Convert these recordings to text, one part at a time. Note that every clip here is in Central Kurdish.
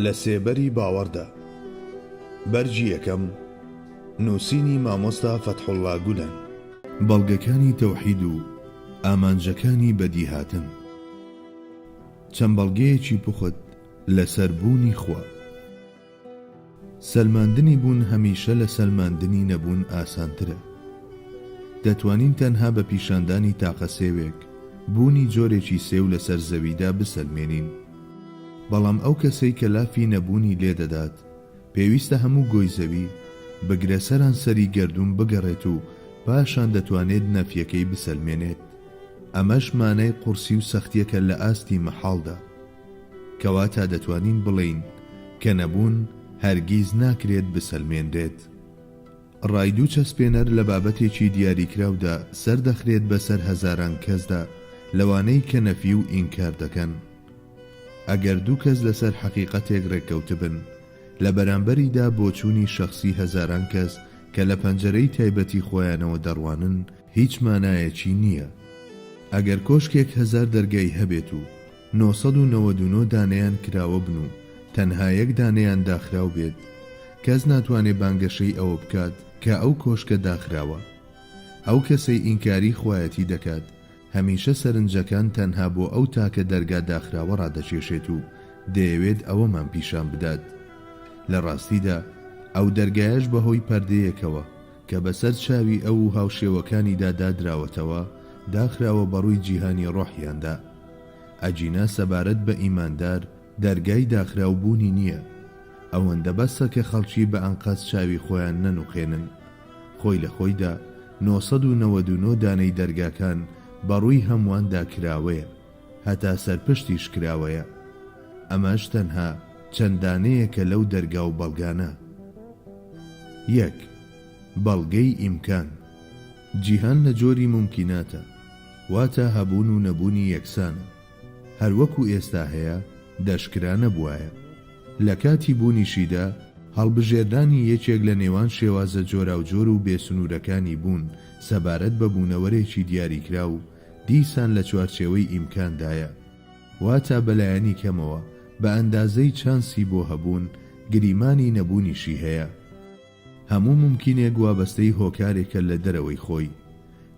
لە سێبەری باوەڕدا بەرگی یەکەم نووسینی مامۆستا فەتحوڵڵا گولەن. بەڵگەکانی تەوحید و ئامانجەکانی بەدیهاتن. چەند بەڵگەیەکی پوخت لەسەر بوونی خوا. سەلماندنی بوون هەمیشە لە سەلماندنی نەبوون ئاسانترە. دەتوانین تەنها بە پیشاندانی تاقە سێوێک، بوونی جۆرێکی سێو لەسەر زەویدا بسەلمێنین. بەڵام ئەو کەسەی کە لافی نەبوونی لێدەدات، پێویستە هەموو گۆی زەوی، بگرە سەرانسەری گەردوون بگەڕێت و پاشان دەتوانێت نەفیەکەی بسەلمێنێت. ئەمەش مانای قورسی و سەختیەکە لە ئاستی مەحاڵدا. کەواتە دەتوانین بڵێین کە نەبوون هەرگیز ناکرێت بسەلمێنرێت. ڕایدو چەسپێنەر لە بابەتێکی دیاریکراودا سەردەخرێت بەسەر هەزاران کەسدا لەوانەی کە نەفی و ئینکار دەکەن. ئەگەر دوو کەس لەسەر حەقیقەتێک ڕێککەوتبن، لە بەرامبەریدا بۆچوونی شەخسی هەزاران کەس کە لە پەنجەرەی تایبەتی خۆیانەوە دەڕوانن هیچ مانایەکی نییە. ئەگەر کۆشکێک هەزار دەرگای هەبێت و نۆ سەد و نەوەد و نۆ دانەیان کراوە بن و تەنها یەک دانەیان داخراو بێت، کەس ناتوانێ بانگەشەی ئەوە بکات کە ئەو کۆشکە داخراوە. ئەو کەسەی ئینکاری خوایەتی دەکات، هەمیشە سەرنجەکان تەنها بۆ ئەو تاکە دەرگا داخراوە ڕادەکێشێت و دەیەوێت ئەوەمان پیشان بدات. لە ڕاستیدا ئەو دەرگایەش بەهۆی پەردەیەکەوە، کە بەسەر چاوی ئەو و هاوشێوەکانیدا دادراوەتەوە، داخراوە بەڕووی جیهانی ڕۆحیاندا. ئەگینا سەبارەت بە ئیماندار، دەرگای داخراو بوونی نییە. ئەوەندە بەسە کە خەڵکی بە ئەنقەست چاوی خۆیان نەنوقێنن. خۆی لە خۆیدا، نۆ سەد و نەوەد و نۆ دانەی دەرگاکان بەڕووی هەموواندا کراوەیە. هەتا سەر پشتیش کراوەیە. ئەمەش تەنها چەند دانەیەکە لەو دەرگا و بەڵگانە. یەک، بەڵگەی ئیمکان، جیهان لە جۆری مومکیناتە، واتە هەبوون و نەبوونی یەکسانە، هەر وەکو ئێستا هەیە دەشکرا نەبوایە. لە کاتی بوونیشیدا هەڵبژێردانی یەکێک لە نێوان شێوازە جۆراوجۆر و بێسنوورەکانی بوون سەبارەت بە بوونەوەرێکی دیاریکراو، دیسان لە چوارچێوەی ئیمکاندایە، واتا بەلایەنی کەمەوە بە ئەندازەی چانسی بۆ هەبوون، گریمانی نەبوونیشی هەیە. هەموو مومکینێک وابەستەی هۆکارێکە لە دەرەوەی خۆی.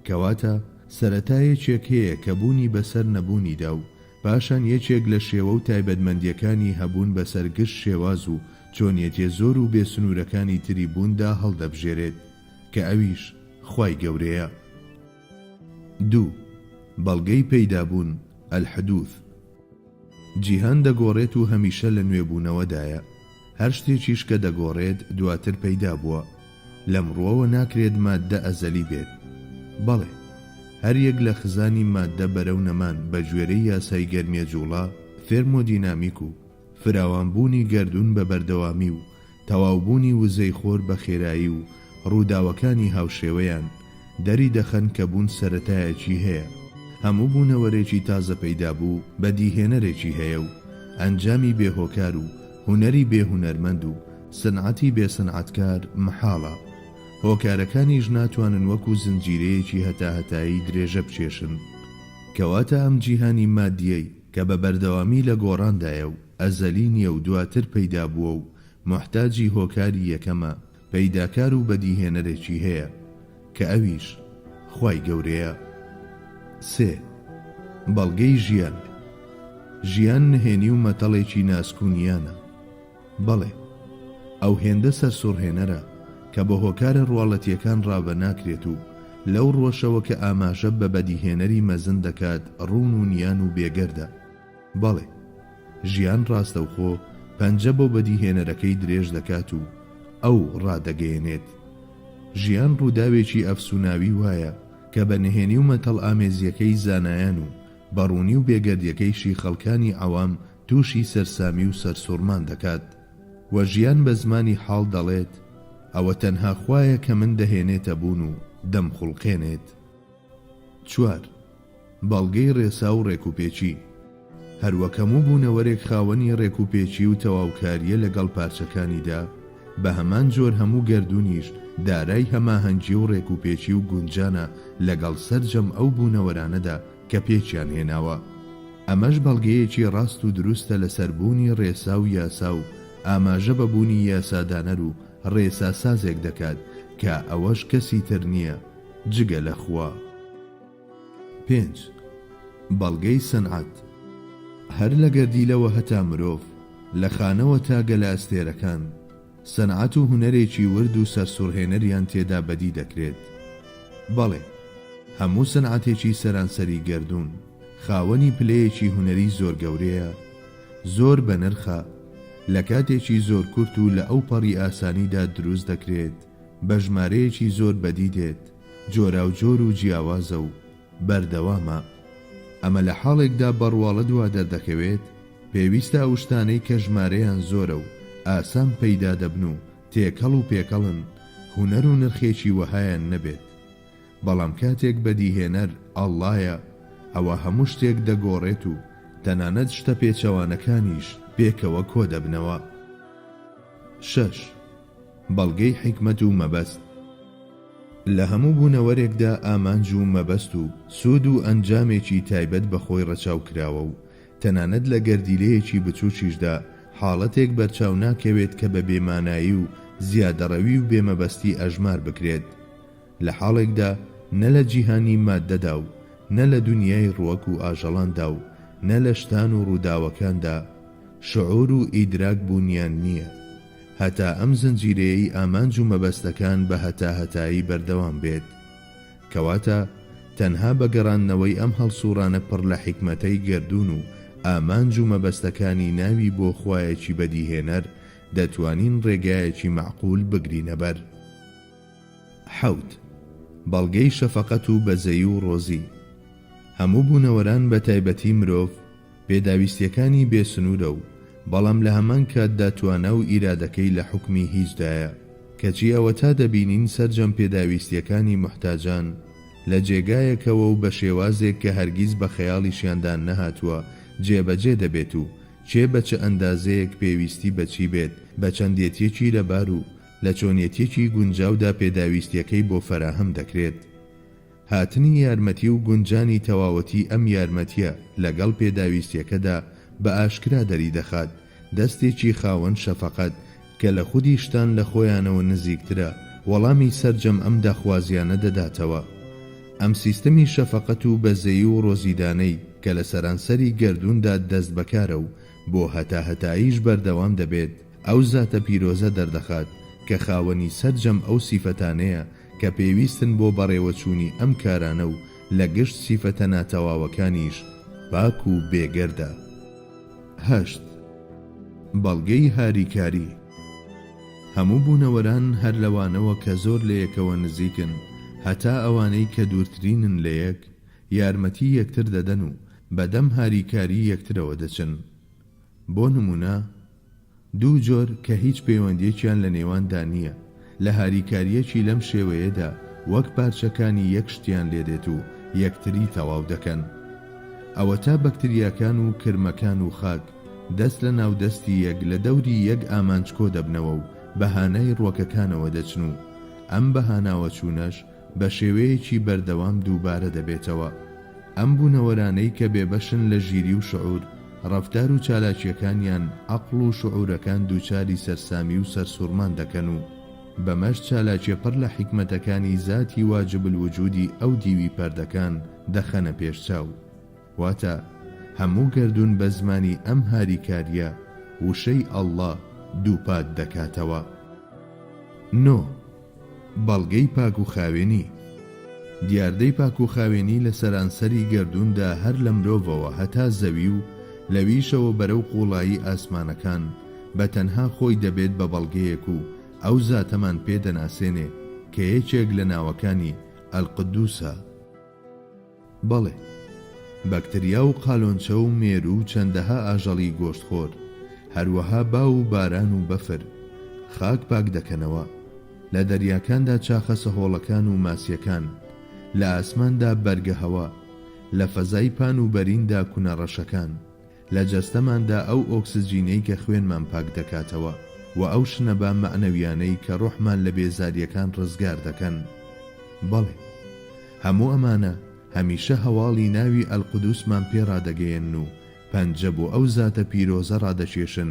کەواتە سەرەتا یەکێک هەیە کە بوونی بەسەر نەبوونیدا و پاشان یەکێک لە شێوە و تایبەتمەندییەکانی هەبوون بەسەر گشت شێواز و چۆنیەتیە زۆر و بێ سنوورەکانی تری بووندا هەڵدەبژێرێت کە ئەویش خوای گەورەیە. دوو، بەڵگەی پەیدابوون، الحدوث. جیهان دەگۆڕێت و هەمیشە لە نوێبوونەوەدایە، هەر شتێکیش کە دەگۆڕێت دواتر پەیدا بووە، لەم ڕووەوە ناکرێت ماددە ئەزەلی بێت. بەڵێ، هەر یەک لە خزانی ماددە بەرەو نەمان بە گوێرەی یاسای گەرمیە جووڵە، ثێرمۆدینامیک، و، فراوانبوونی گەردوون بە بەردەوامی و تەواوبوونی وزەی خۆر بە خێرایی و ڕووداوەکانی هاوشێوەیان، دەریدەخەن کە بوون سەرەتایەکی هەیە. هەموو بوونەوەرێکی تازەپەیدابوو بەدیهێنەرێکی هەیە و ئەنجامی بێ هۆکار و هونەری بێ هونەرمەند و سنعەتی بێ سنعەتکار مەحاڵە. هۆکارەکانیش ناتوانن وەکو زنجیرەیەکی هەتاهەتایی درێژە بکێشن. کەواتە ئەم جیهانی مادییەی. کە بە بەردەوامی لە گۆڕاندایە و ئەزەلی نییە و دواتر پەیدا بووە و موحتاجی هۆکاری یەکەمە، پەیداکار و بەدیهێنەرێکی هەیە، کە ئەویش خوای گەورەیە. سێ. بەڵگەی ژیان. ژیان نهێنی و مەتەڵێکی ناسک و نیانە. بەڵێ، ئەو هێندە سەرسوڕهێنەرە کە بە هۆکارە ڕواڵەتییەکان ڕاڤە ناکرێت و لەو ڕوەشەوە کە ئاماژە بە بەدیهێنەری مەزن دەکات ڕوون و نیان و بێگەردە. بەڵێ، ژیان ڕاستەوخۆ پەنجە بۆ بەدیهێنەرەکەی درێژ دەکات و ئەو ڕادەگەیەنێت. ژیان ڕووداوێکی ئەفسووناوی وایە کە بە نهێنی و مەتەڵئامێزییەکەی زانایان و بە ڕوونی و بێگەردییەکەیشی خەڵکانی عەوام تووشی سەرسامی و سەرسوڕمان دەکات و ژیان بە زمانی حاڵ دەڵێت، ئەوە تەنها خوایە کە من دەهێنێتە بوون و دەمخوڵقێنێت. چوار. بەڵگەی ڕێسا و ڕێکوپێکی، هەروەک هەموو بوونەوەرێک خاوەنی ڕێکوپێکی و تەواوکارییە لەگەڵ پارچەکانیدا، بە هەمان جۆر هەموو گەردوونیش دارای هەماهەنگی و ڕێکوپێکی و گونجانە لەگەڵ سەرجەم ئەو بوونەوەرانەدا، کە پێکیان هێناوە، ئەمەش بەڵگەیەکی ڕاست و دروستە لەسەر بوونی ڕێسا و یاسا و ئاماژە بە بوونی یاسادانەر و ڕێساسازێک دەکات کە ئەوەش کەسی تر نییە جگە لە خوا. پێنج، بەڵگەی سەنعەت. هەر لە گەردیلەوە هەتا مرۆڤ، لە خانەوە تا گەلە ئەستێرەکان، سەنعەت و هونەرێکی ورد و سەرسوڕهێنەریان تێدا بەدی دەکرێت. بەڵێ، هەموو سەنعەتێکی سەرانسەری گەردوون، خاوەنی پلەیەکی هونەری زۆر گەورەیە، زۆر بەنرخە، لە کاتێکی زۆر کورت و لە ئەوپەڕی ئاسانیدا دروست دەکرێت، بە ژمارەیەکی زۆر بەدی دێت، جۆراوجۆر و جیاوازە و، بەردەوامە. ئەمە لە حاڵێکدا بە ڕواڵەت وا دەردەکەوێت پێویستە ئەو شتانەی کە ژمارەیان زۆرە و ئاسان پەیدا دەبن و تێکەڵ و پێکەڵن، هونەر و نرخێکی وەهایان نەبێت. بەڵام کاتێک بەدیهێنەر ئەڵڵایە، ئەوا هەموو شتێک دەگۆڕێت و تەنانەت شتە پێچەوانەکانیش پێکەوە کۆ دەبنەوە. شەش. بەڵگەی حیکمەت و مەبەست لە هەموو بوونەوەرێکدا ئامانج و مەبەست و سوود و ئەنجامێکی تایبەت بە خۆی ڕەچاو کراوە و تەنانەت لە گەردیلەیەکی بچووکیشدا حاڵەتێک بەرچاو ناکەوێت کە بە بێمانایی و زیادەڕەوی و بێمەبەستی ئەژمار بکرێت. لە حاڵێکدا نە لە جیهانی ماددەدا و نە لە دونیای ڕوەک و ئاژەڵاندا و نە لە شتان و ڕووداوەکاندا شعور و ئیدراک بوونیان نییە. هەتا ئەم زنجیرەیەی ئامانج و مەبەستەکان بە هەتاهەتایی بەردەوام بێت. کەواتە تەنها بە گەڕاندنەوەی ئەم هەڵسووڕانە پڕ لە حیکمەتەی گەردوون و ئامانج و مەبەستەکانی ناوی بۆ خوایەکی بەدیهێنەر دەتوانین ڕێگایەکی مەعقول بگرینە بەر. حەوت، بەڵگەی شەفەقەت و بەزەیی و ڕۆزی هەموو بوونەوەران بە تایبەتی مرۆڤ پێداویستیەکانی بێ سنوورە و بەڵام لە هەمان کاتدا توانا و ئیرادەکەی لە حوکمی هیچدایە کەچی ئەوەتا دەبینین سەرجەم پێداویستیەکانی موحتاجان لە جێگایەکەوە و بە شێوازێک کە هەرگیز بە خەیاڵیشیاندا نەهاتووە جێبەجێ دەبێت و کێ بە چ ئەندازەیەک پێویستی بە چی بێت بە چەندێتیەکی لەبار و لە چۆنیەتیەکی گونجاودا پێداویستیەکەی بۆ فەراهەم دەکرێت. هاتنی یارمەتی و گونجانی تەواوەتی ئەم یارمەتیە لەگەڵ پێداویستیەکەدا بە ئاشکرا دەریدەخات دەستێکی خاوەن شەفەقەت کە لە خودی شتان لە خۆیانەوە نزیکترە وەڵامی سەرجەم ئەم داخوازیانە دەداتەوە. ئەم سیستەمی شەفەقەت و بەزەیی و ڕۆزیدانەی کە لە سەرانسەری گەردووندا دەست بەکارە و بۆ هەتاهەتاییش بەردەوام دەبێت، ئەو زاتە پیرۆزە دەردەخات کە خاوەنی سەرجەم ئەو سیفەتانەیە کە پێویستن بۆ بەڕێوەچوونی ئەم کارانە و لە گشت سیفەتە ناتەواوەکانیش پاک و بێگەردە. هەشت. بەڵگەی هاریکاری، هەموو بوونەوەران هەر لەوانەوە کە زۆر لەیەکەوە نزیکن هەتا ئەوانەی کە دوورترینن لەیەک، یارمەتی یەکتر دەدەن و بەدەم هاریکاری یەکترەوە دەچن. بۆ نموونە. دوو جۆر کە هیچ پەیوەندیەکیان لە نێواندا نییە، لە هاریکاریەکی لەم شێوەیەدا وەک پارچەکانی یەک شتیان لێدێت و یەکتری تەواو دەکەن. ئەوەتا بەکتریاکان و کرمەکان و خاک دەست لە ناو دەستی یەک لە دەوری یەک ئامانج کۆدەبنەوە و بە هانای ڕوەکەکانەوە دەچن و ئەم بەهاناوەچوونەش بە شێوەیەکی بەردەوام دووبارە دەبێتەوە. ئەم بوونەوەرانەی کە بێبەشن لە ژیری و شعور، ڕەفتار و چالاکییەکانیان عەقڵ و شعورەکان دووچاری سەرسامی و سەرسووڕمان دەکەن و بەمەش چالاکیە پڕ لە حیکمەتەکانی زاتی واجب الوجودی ئەو دیوی پەردەکان دەخەنە پێش چاو. واتە هەموو گەردوون بە زمانی ئەم هاریکاریە وشەی، اللە، دووپات دەکاتەوە. نۆ. بەڵگەی پاک و خاوێنی، دیاردەی پاک و خاوێنی لە سەرانسەری گەردووندا هەر لە مرۆڤەوە هەتا زەوی و لەویشەوە بەرەو قوڵایی ئاسمانەکان بە تەنها خۆی دەبێت بە بەڵگەیەک و ئەو زاتەمان پێ دەناسێنێ کە یەکێک لە ناوەکانی، القدوسە. بەڵێ، بەکتریا و قالۆنچە و مێروو و چەندەها ئاژەڵی گۆشتخۆر، هەروەها باو و باران و بەفر، خاک پاک دەکەنەوە. لە دەریاکاندا چاخە سەهۆڵەکان و ماسییەکان، لە ئاسماندا بەرگەهەوا، لە فەزای پان و بەریندا کونە ڕەشەکان، لە جەستەماندا ئەو ئۆکسجینەی کە خوێنمان پاک دەکاتەوە و ئەو شنەبا مەعنەویانەی کە ڕۆحمان لە بێزارییەکان ڕزگار دەکەن. بەڵێ. هەموو ئەمانە هەمیشە هەواڵی ناوی القدوسمان پێ ڕادەگەیەنن و پەنجە بۆ ئەو زاتە پیرۆزە ڕادەکێشن،